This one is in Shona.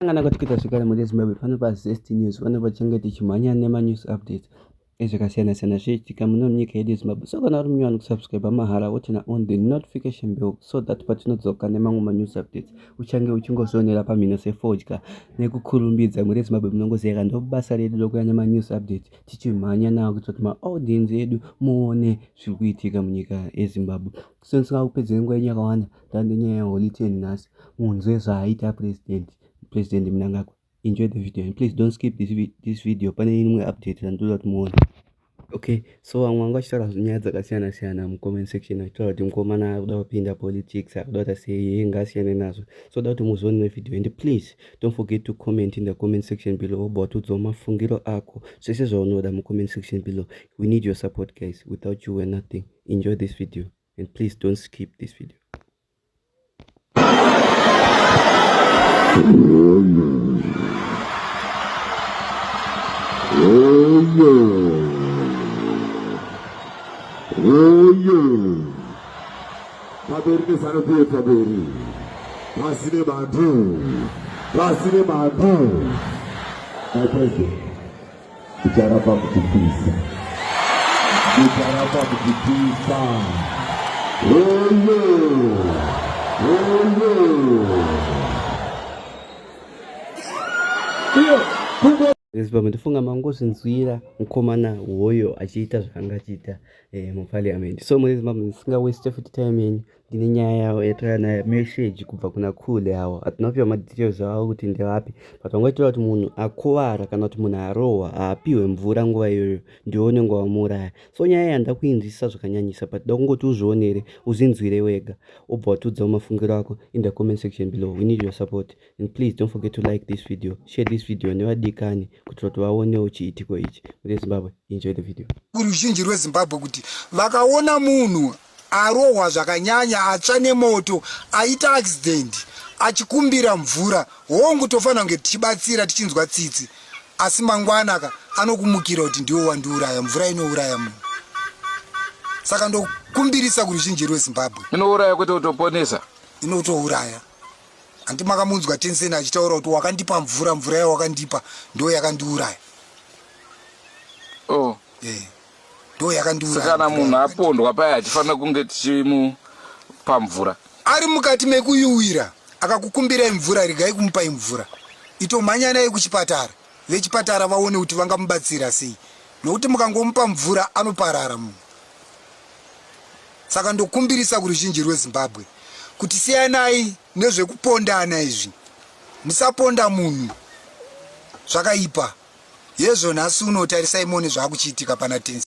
Kana katikita zvekare muri Zimbabwe pano pa Zest News vano vachange tichimhanya nema news updates ezvakasiyana siyana zvichiitika muno munyika yedu yeZimbabwe so kana uri munyowani kusubscribe mahara wotina on the notification bell so that patinodzoka nemamwe ma news updates uchange uchingozvionera pamhino sefodya nekukurumbidza muri Zimbabwe munongoziyaka ndobasa redu rokuya nema news updates tichimhanya nawo kuitira kuti ma audience edu muone zviri kuitika munyika yeZimbabwe Sensika kupedzera nguva yenyu yakawanda tande nyaya yeholy ten nhasi munzwe zvaaita president president mnangagwa enjoy the video and please don't skip this, this video pane imwe update randoda kuti muone okay so vamwe vanga vachitaura nyaya dzakasiyana siyana mucomment section vachitaura kuti mukomana akuda kupinda politics akuda kuita sei ye ngaasiyane nazvo so da kuti muzoone nevideo and please don't forget to comment in the comment section below obva watiudzawo mafungiro ako zvese zvaunoda mucomment section below we need your support guys without you we're nothing enjoy this video and please don't skip this video pamberi nezanopiwe pamberi pasi nebantu pasi nebantu my president Kucharapa kutipisa. Kucharapa kutipisa. Hello. Hello. Iyo, kuko Zimbabwe ndifunga mangozvinzwira mukomana hoyo achiita zvaanga achiita eh, muparliament so muri Zimbabwe ndisinga waste futi time yenyu ndine nyaya yavo yatauya nayo message kubva kuna khule awo hatina kupiwa madetails avo kuti ndevapi but vangoitaura kuti munhu akuvara kana kuti munhu arohwa haapiwe mvura nguva iyoyo ndiwo unenge wamuuraya so nyaya iyi handida kuinzwisisa zvakanyanyisa but da kungoti uzvionere uzinzwire wega obva watiudzawo mafungiro ako in the comment section below we need your support and please don't forget to like this video share this video nevadikani kuitira kuti vaonewo chiitiko ichi rezimbabwe enjoy the video kuruzhinji rwezimbabwe kuti vakaona munhu arohwa zvakanyanya atsva nemoto aita accident achikumbira mvura hongu tofanira kunge tichibatsira tichinzwa tsitsi asi mangwana ka anokumukira kuti ndiwo wandiuraya mvura inouraya munhu saka ndokumbirisa kuruzhinji rwezimbabwe inouraya kwete kutoponesa inotouraya handi makamunzwa tenseni achitaura kuti wakandipa mvura mvura yawakandipa ndo yakandiuraya oh. yeah. ndo yakandiuraya kana munhu apondwa paya hatifanira kunge tichimupa mvura ari mukati mekuyuwira akakukumbirai mvura regai kumupai mvura itomhanyanai kuchipatara vechipatara vaone kuti vangamubatsira sei nokuti mukangomupa mvura anoparara munhu saka ndokumbirisa kuruzhinji rwezimbabwe kuti siyanai nezvekupondana izvi musaponda munhu zvakaipa hezvo nhasi uno tarisai mone zvaakuchiitika pana tenzi